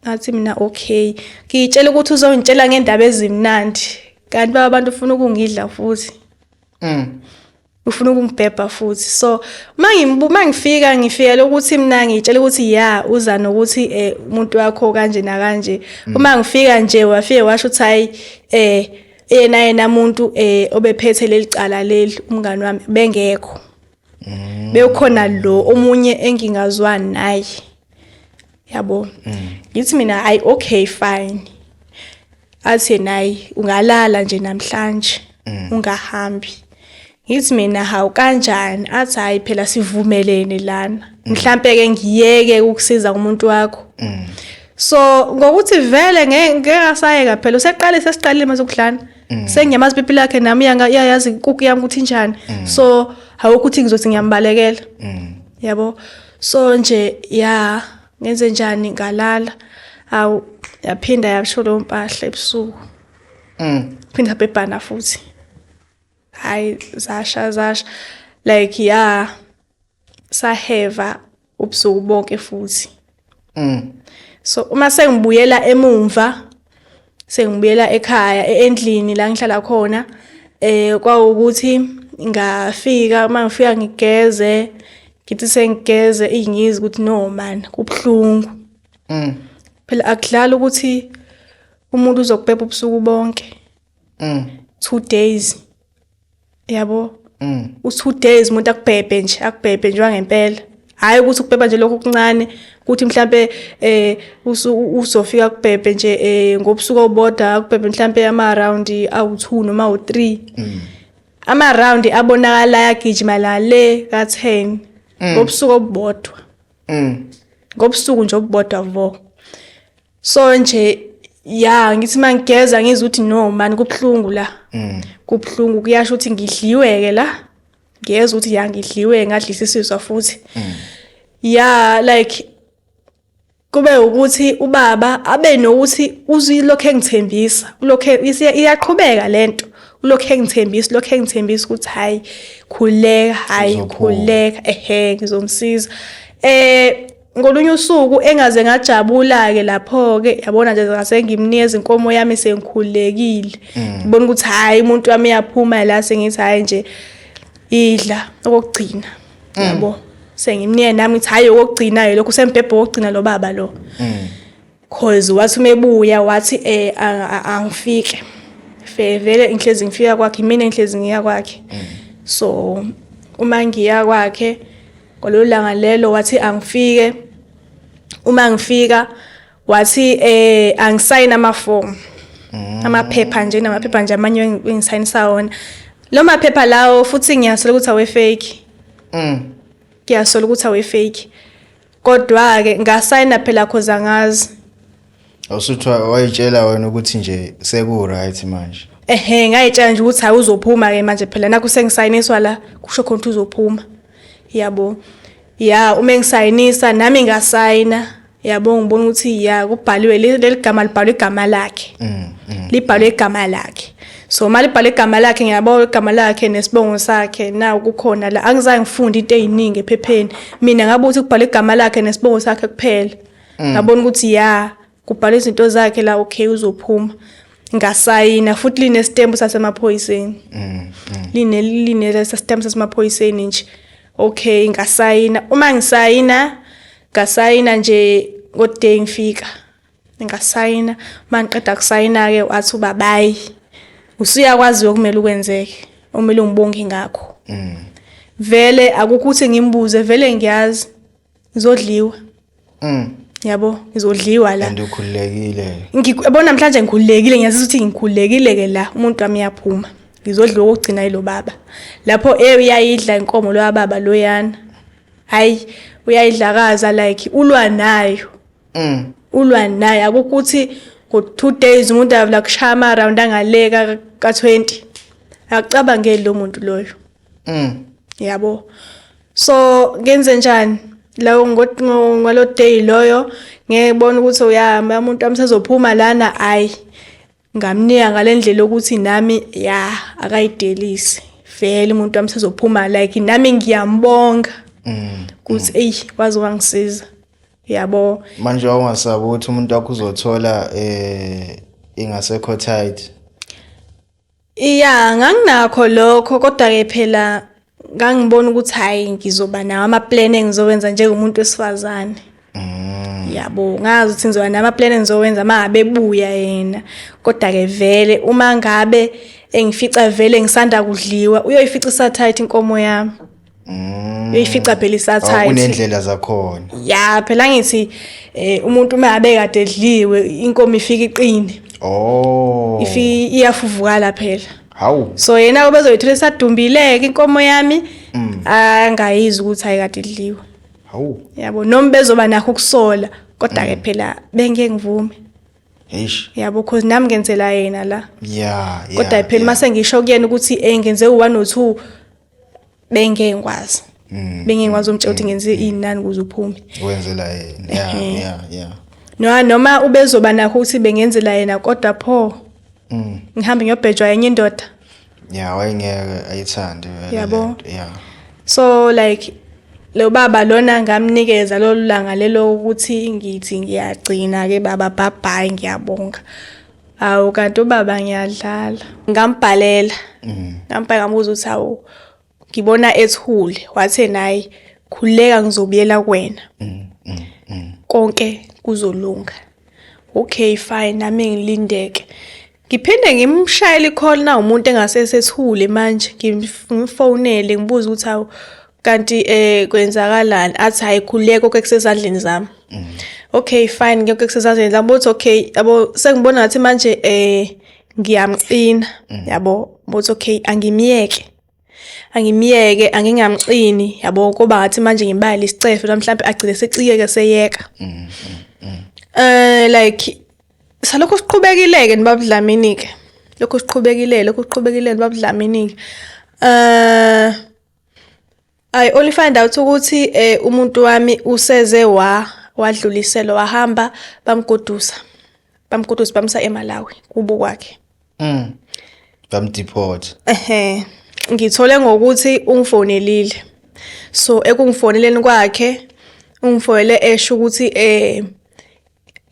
S2: ngathi mina okay ngiyitshela ukuthi uzongitshela ngendaba ezimnandi kanti baba abantu ufuna ukungidla futhi mm ufuna ukungibhebha futhi so mangibuka ngifika ngifika lokuthi mina ngitshela ukuthi ya uza nokuthi eh umuntu wakho kanje na kanje mm. uma ngifika nje wafike washo ukuthi hayi eh yena yena umuntu eh obephethe lelicala leli umngani wami bengekho mm. bewukhona lo omunye engingazwani naye yabo mm. ngithi mina ayi okay fine athi naye ungalala nje namhlanje mm. ungahambi ngithi mina hawu kanjani athi hayi phela sivumelene lana mm. mhlampe ke ngiyeke ukusiza umuntu wakho mm. so ngokuthi vele ngeke ngasayeka phela useqale sesiqalile mase kuhlana Mm. sengiyamazi pipi lakhe nami iyayazi kuku yami ukuthi njani mm. so hawu ukuthi ngizothi ngiyambalekela mm. yabo so nje ya ngenze njani ngalala awu yaphinda yasho leyo mpahla ebusuku phinda bebhana futhi hayi zasha zasha like ya saheva ubusuku bonke futhi mm. so uma sengibuyela emumva sengibuyela ekhaya e-, endlini la ngihlala khona eh kwawukuthi ngafika uma ngifika ngigeze ngithi sengigeze ingizi ukuthi no man kubhlungu mm phela akudlala ukuthi umuntu uzokubhebha ubusuku bonke mm two days yabo mm. u-two days umuntu akubhebhe nje akubhebhe nje wangempela hhayi ukuthi ukubhebha nje lokhu okuncane ukuthi mhlampe eh uzofika kubhebhe nje eh ngobusuku oboda akubhebhe mhlampe ama round awu2 noma u3 mm. ama round abonakala yagijima la le ka 10 mm. ngobusuku obodwa mm. ngobusuku nje obodwa vo so nje ya ngithi mangigeza ngizwe ukuthi no mani kubuhlungu la mm. kubuhlungu kuyasho ukuthi ngidliweke la ngiyezwa ukuthi ya ngidliwe ngadlisa isizwa futhi mm. ya like kube ukuthi ubaba abe nokuthi uzilokho engithembisa ulokho iyaqhubeka lento ulokho engithembisa ulokho engithembisa ukuthi hayi khuleka hayi khuleka ehe ngizomsiza eh Ngolunye usuku engaze ngajabula-ke lapho-ke yabona nje ngase ngimnikeza inkomo yami sengikhululekile mm. ngibona ukuthi hhayi umuntu wami uyaphuma la sengithi hhayi nje idla okokugcina mm. yabo sengimnike nami ngithi hhayi okokugcina-ke lokhu usembhebhe wokugcina lo baba lo mm. cause wathi uma ebuya wathi eh angifike fe vele inhlezi ngifika kwakhe mina inhlezi ngiya kwakhe mm. so uma ngiya kwakhe ngololu langa lelo wathi angifike uma ngifika wathi eh angisayina amafomu mm. amaphepha nje namaphepha nje amanye engisayinisa wona lo maphepha lawo futhi ngiyasola ukuthi awe fake mm. ngiyasola ukuthi awe fake Kodwa-ke ngasayina phela cause angazi. Awusuthi wa-
S1: wayitshela wena ukuthi nje
S2: seku-right
S1: manje. Ehhe
S2: ngayitshela nje ukuthi hayi uzophuma ke manje phela nakho sengisayiniswa la kusho khona ukuthi uzophuma. Yabo. Ya uma engisayinisa nami ngasayina. Yabo ngibona ukuthi ya kubhaliwe le- leli gama libhalwe igama lakhe. Mm, mm. Libhalwe igama lakhe. so uma libhala igama lakhe ngiyabona igama lakhe nesibongo sakhe na kukhona la angizange ngifunde into eyiningi ephepheni mina ngabe ukuthi kubhala igama lakhe nesibongo sakhe kuphela mm. ngabona ukuthi ya kubhala izinto zakhe la okay uzophuma ngasayina futhi linesitembu sasemaphoyiseni mm, mm. line line lesesitembu sasemaphoyiseni nje okay ngasayina uma ngisayina ngasayina nje ngoday ngifika ngasayina uma ngiqeda kusayina-ke wathi ubabayi usuyakwazi okumele ukwenzeke omele ungibonge ngakho mm. vele akukho ukuthi ngimbuze vele ngiyazi ngizodliwa mm. yabo ngizodliwa la
S1: ngiyabona namhlanje
S2: ngikhululekile ngiyazi ukuthi ngikhululekile-ke la umuntu wami uyaphuma ngizodliwa okugcina yilo baba lapho e uyayidla inkomo loya baba loyana hhayi uyayidlakaza like ulwa nayo mm. ulwa naye akukuthi ngo-two days umuntu avula kushaya ama-round angaleka ka-twenty akucabangeli lo muntu loyo mm. yabo so ngenze njani lawo ngalo day loyo ngeke bona ukuthi uyahamba umuntu wami sezophuma lana ayi Ngamnika ngale ndlela yokuthi nami ya akayidelise vele umuntu wami sezophuma like nami ngiyambonga mm. ukuthi mm. eyi waze wangisiza yabo manje wawungasabi
S1: ukuthi umuntu wakho uzothola eh ingasekho tight iya
S2: nganginakho lokho kodwa ke phela ngangibona ukuthi hhayi ngizoba nawo amaplan engizowenza njengomuntu wesifazane mm. yabo ngazi ukuthi ngizoba namaplan engizowenza uma ngabe ebuya yena kodwa-ke vele uma ngabe engifica vele ngisanda kudliwa uyoyifica isathayithi inkomo yami Mm. uyifica phela isathayithi oh, unendlela zakhona
S1: ya phela ngithi
S2: eh, umuntu uma abe kade edliwe inkomo ifika iqine oh ifika iyafuvukala phela hawu so yena
S1: ubezoyithola
S2: esadumbileke inkomo yami mm. angayizwa ukuthi ayikade idliwe hawu yabo
S1: noma bezoba
S2: nakho ukusola kodwa ke mm. phela bengeke ngivume Eish. Yabo cause nami ngenzela yena la. Yeah, yeah. Kodwa phela mase ngisho kuyena ukuthi eh ngenze u1 no2 bengeke ngikwazi mm. bengeke ngikwazi umtshela ukuthi mm. ngenze inani ukuze uphume wenzela yena
S1: yeah yeah yeah no noma
S2: ubezoba nakho ukuthi bengenzela yena kodwa pho mm. ngihambe ngiyobhejwa yenye indoda yeah wayengeke
S1: ayithande yabo yeah
S2: so like lo baba lona ngamnikeza lolu langa lelo ukuthi ngithi ngiyagcina ke baba bye bye ngiyabonga Hawu kanti ubaba ngiyadlala. Ngambhalela. Mm. Ngambhala ngamuza ukuthi hawu ngibona ethule wathe nayi khuleka ngizobuyela kuwena. Mm, mm, Konke kuzolunga. Okay fine nami ngilindeke. Ngiphinde ngimshayele ikhona umuntu engasesethule manje ngimfonele ngibuza ukuthi hawu kanti eh kwenzakalani athi hayi khuleko ke kusezandleni zami mm. okay fine ngeke ke kusezandleni zami bothi okay yabo sengibona ngathi manje eh ngiyamcina mm. yabo bothi okay angimiyeke angimiyeke angingamcini yabo kuba ngathi manje ngimbayile isicefe la mhlawumbe agcine secikeke seyeka mm, eh like salokho siqhubekileke nibabudlamini ke lokho siqhubekile lokho siqhubekile nibabudlamini ke eh I only find out ukuthi eh umuntu wami useze wa wadluliselo wahamba bamgodusa. Bamgodusa bamsa eMalawi kubo kwakhe. Mm. Bamdeport.
S1: Ehhe.
S2: Ngithole ngokuthi ungifonelile. So ekungifoneleni kwakhe ungifonele esho ukuthi eh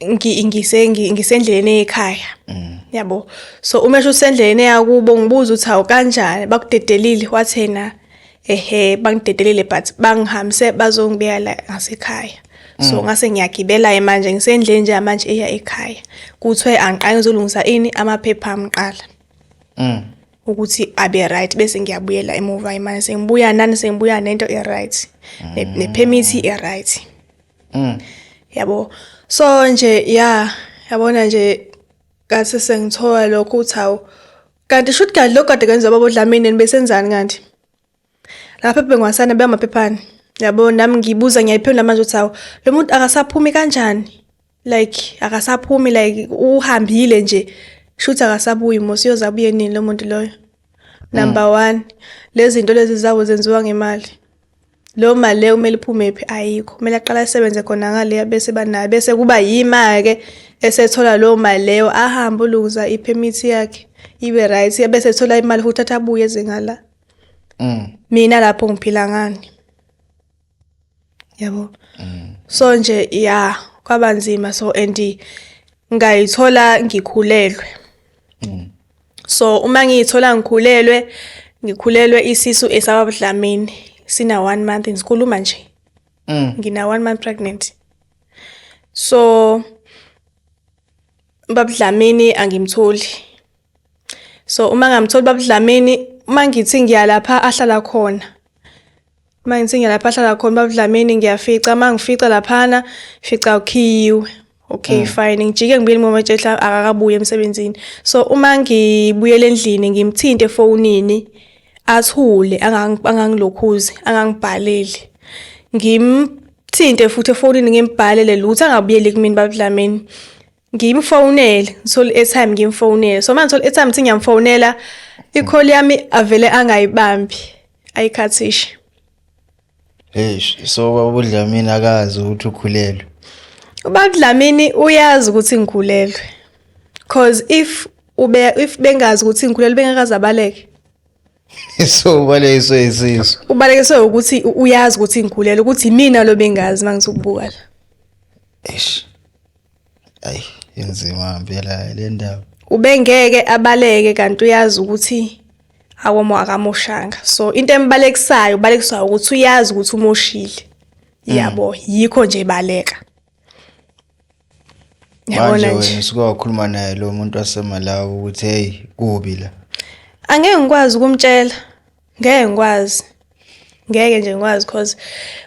S2: ngisendleleni ekhaya mm. yabo so uma esho usendleleni eyakubo ngibuza ukuthi awu kanjani bakudedelile wathena ehe bangidedelile but bangihambise bazongibeka la ngasekhaya so mm. ngase ngiyagibela manje ngisendleni nje manje eya ekhaya kuthiwe angiqale ngizolungisa ini amaphepha amqala mm. ukuthi abe right bese ngiyabuyela emuva imanje sengibuya nani sengibuya nento e right ne permit e right mm. yabo so nje ya yabona nje kathi sengithola lokho uthi hawu kanti shuthi kanti lokho kade kwenziwa baba uDlamini besenzani kanti lapha ebengwasana beyamaphephana yabo nami ngibuza ngiyayiphendula manje ukuthi hawu lo muntu akasaphumi kanjani like akasaphumi like uhambile nje shuthi akasabuyi mos uyoze abuye nini lo muntu loyo number mm. one lezi zinto lezi zawo zenziwa ngemali Leyo mali leyo kumele iphume phi ayikho. Kumele aqale asebenze khona ngaleya bese banayo bese kuba yima-ke esethola leyo mali leyo ahambe olungisa i-permit yakhe ibe right bese ethola imali futhi athi abuye eze ngala. Mm. Mina lapho ngiphila ngani. Yabo. Mm. So nje ya kwabanzima so and ngayithola ngikhulelwe. Mm. so uma ngiyithola ngikhulelwe ngikhulelwe isisu esababudlamini sina one month ngikhuluma nje mm. ngina one month pregnant so babudlamini angimtholi so uma ngamtholi babudlamini uma ngithi ngiyalapha ahlala khona uma ngisinge lapha ahlala khona babudlamini ngiyafica uma ngifica laphana fica ukhiyiwe okay mm. fine ngijike ngibuyele ngomatshehla akakabuye emsebenzini so uma ngibuyele endlini ngimthinte efonini athule angangilokhuzi angangibhaleli ngimthinte futhi efonini ngimbhalele lutho angabuyeli kumina babudlamini ngimfonele ngithole i-airtime ngimfonele so manje ngithole i-airtime ngithi ngiyamfonela i-call yami avele angayibambi ayikhathishe eish
S1: so babudlamini akazi ukuthi ukhulelwe ubabudlamini
S2: uyazi ukuthi ngikhulelwe cause if ube if bengazi ukuthi ngikhulelwe bengakazabaleke
S1: so ubalekiswe isisu ubalekiswe ukuthi
S2: uyazi ukuthi ngikhulelwe ukuthi imina lo bengazi mangisukubuka la eish
S1: Ayi inzima ngempela le ndaba. Ubengeke
S2: abaleke kanti uyazi ukuthi akomo akamoshanga. So into embalekisayo ubalekiswa ukuthi uyazi ukuthi umoshile. Mm. Yabo yikho nje baleka.
S1: Manje wena usuke wakhuluma naye lo muntu wasemalawi ukuthi hey kubi la. Angeke ngikwazi
S2: ukumtshela. ngeke ngikwazi ngeke nje ngikwazi cause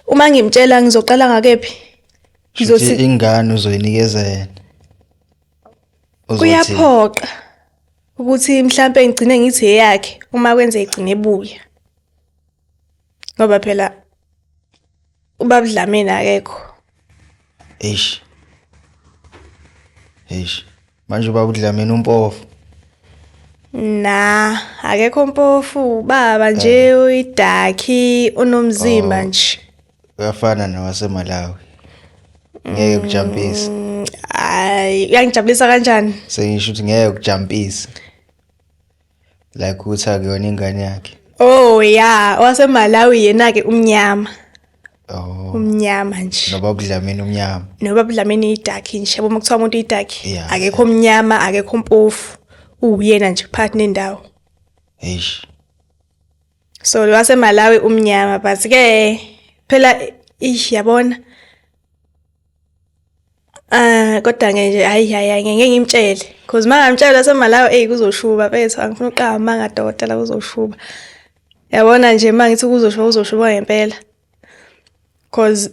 S2: uma ngimtshela ngizoqala ngakephi ngizothi
S1: ingane uzoyinikeza yena
S2: kuyaphoqa ukuthi mhlambe ngigcine ngithi eyakhe uma kwenze igcine ebuya ngoba phela ubabudlameni akekho eish
S1: eish Manje ubaba uDlamini umpofu. Na,
S2: akekho mpofu, baba nje uyidakhi unomzimba Oh. nje. Uyafana
S1: nowaseMalawi. Ngeke ukujampise. Mm, Ay,
S2: uyangijabulisa kanjani? Sengisho ukuthi ngeke
S1: ukujampise. like ukuthi akuyona ingane yakhe oh ya wasemalawi
S2: yena-ke umnyama oh umnyama nje noba budlamini umnyama
S1: noba budlamini idakhi
S2: nje yabo uma kuthiwa umuntu idakhi yeah. akekho mnyama akekho mpofu uwuyena nje phakathi nendawo eish so lo wasemalawi umnyama but-ke phela ish yabona Ah kodwa ke nje hayi hayi ngeke ngimtshele because mangamtshela semalayo ey kuzoshuba bethu angifuna uqaba manga dokotela kuzoshuba yabona nje mangithi kuzoshuba kuzoshuba ngempela because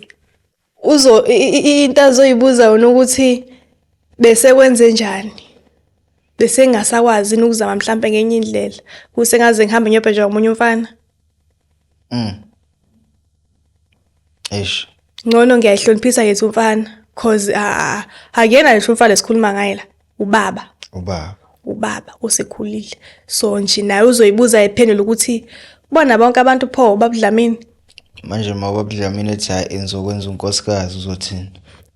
S2: uzo into azoyibuza wona ukuthi bese kwenze njani bese ngasakwazi ukuzama mhlambe ngenye indlela kuse ngaze ngihambe ngiyobhejwa umunye umfana mm eish ngcono ngiyayihloniphisa yethu mfana cause ah akuyena ngisho umfana esikhuluma ngaye la ubaba ubaba ubaba osekhulile so nje naye uzoyibuza ephendula ukuthi bona bonke abantu pho babudlamini manje uma
S1: babudlamini ethi hayi engizokwenza unkosikazi uzothini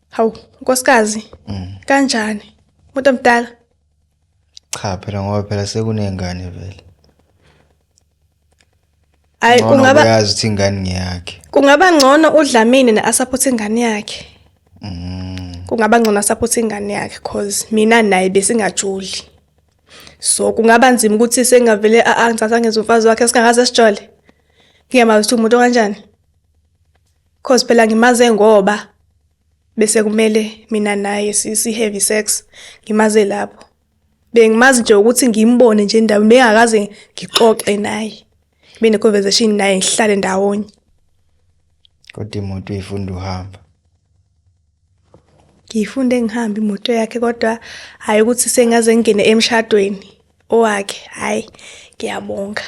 S1: hawu
S2: nkosikazi mm. kanjani umuntu omdala
S1: cha phela ngoba phela sekunengane vele
S2: Ay kungaba uyazi ukuthi ingane
S1: ngiyakhe. Kungaba ngcono
S2: uDlamini ne support ingane yakhe. Mm. Kungaba ngcono support ingane yakhe cause mina naye besingajuli. So kungaba nzima ukuthi sengavele angithatha ngenza umfazi wakhe singakaze sijole. Ngiyamazi ukuthi umuntu kanjani. Cause phela ngimaze ngoba bese kumele mina naye si have sex ngimaze lapho. bengimazi nje ukuthi ngimbone nje endaweni bengakaze ngixoxe naye kube ne-conversation naye ngihlale ndawonye
S1: kodwa imoto uyifunda uhamba
S2: ngiyifunde ngihamba imoto yakhe kodwa hhayi ukuthi sengaze ngingene emshadweni owakhe hhayi ngiyabonga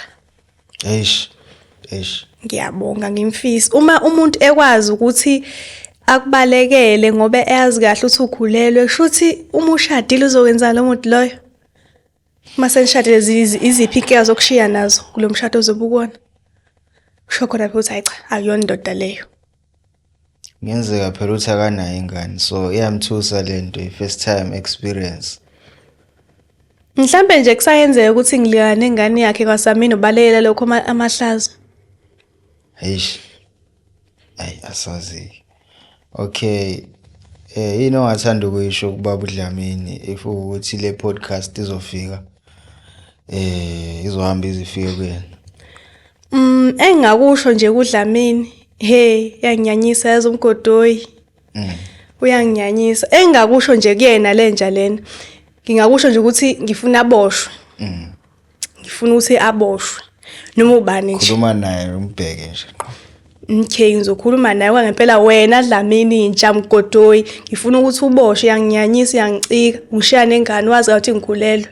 S2: eish eish ngiyabonga ngimfisa uma umuntu ekwazi ukuthi akubalekele ngoba eyazi kahle ukuthi ukhulelwe kushuthi uma ushadile uzokwenza lo muntu loyo uma senishadile iziphi inkinga zokushiya nazo kulo mshado ozobe ukona kusho khona phela ukuthi hayi cha akuyona indoda leyo
S1: Kungenzeka phela ukuthi akanayo ingane so iyamthusa le nto i-first time experience.
S2: Mhlampe nje kusayenzeka ukuthi ngilika nengane yakhe kwaSamino balelela lokho amahlazo.
S1: Eish. Ayi asazi. Okay. Eh yini ongathanda ukuyisho kubaba uDlamini if ukuthi le podcast izofika eh izohamba izifike kuyena. Mm engakusho
S2: nje kudlamini hey yanginyanyisa yazi umgodoyi. Mm. Uyanginyanyisa engakusho nje kuyena lenja lena. Ngingakusho nje ukuthi ngifuna aboshwe. Mm. Ngifuna ukuthi aboshwe. Noma ubani nje. Khuluma naye umbheke
S1: nje. Okay
S2: ngizokhuluma naye kwangempela wena Dlamini intsha mgodoyi ngifuna ukuthi uboshe yanginyanyisa yangicika ngishiya nengane wazi ukuthi ngikhulelwe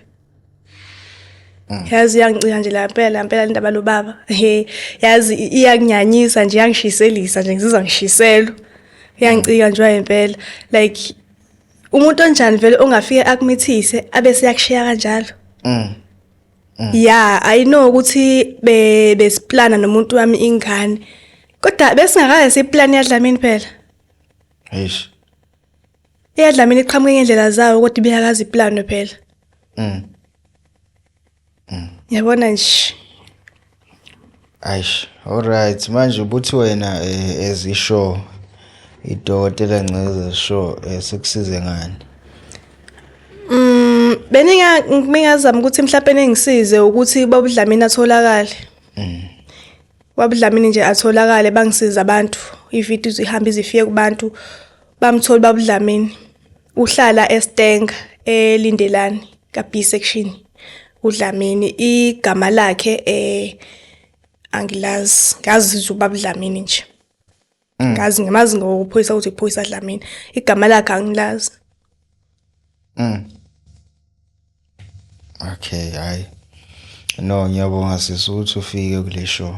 S2: Mm. yazi iyangicija nje la mpela mpela le ndaba lobaba he yazi iyakunyanyisa nje iyangishiselisa nje ngizizwa ngishiselwa iyangicika nje impela like umuntu onjani vele ongafike akumithise abe seyakushiya kanjalo mm. mm. ya i know ukuthi besiplana nomuntu wami ingane kodwa besingakaze siplane yadlamini phela eish Eyadlamini iqhamuke ngendlela zawo kodwa ibiyakazi iplano phela. Mm. Mm. Yabona nje. Aish,
S1: all right. Manje ubuthi wena eh, as isho idokotela ngceza sho eh, sikusize ngani? Mm,
S2: beninga ngingazama ukuthi mhlawumbe ningisize ukuthi babudlamini atholakale. Mm. wabudlamini nje atholakale bangisiza abantu ividiyo zihamba izifike kubantu bamthola babudlamini uhlala eStenga eLindelani ka B section uDlamini igama lakhe eh angilazi ngazi ubabudlamini nje Mm. ngazi ngimazi ngokuphoyisa ukuthi kuphoyisa dlamini igama lakhe angilazi mm.
S1: okay hayi no ngiyabonga sisi ukuthi ufike kule show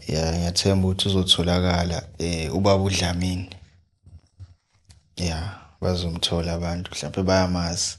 S1: ya ngiyathemba ukuthi uzotholakala eh ubaba udlamini ya bazomthola abantu mhlawumbe bayamazi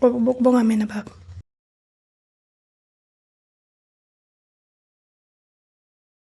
S1: Kubonga
S2: mina baba.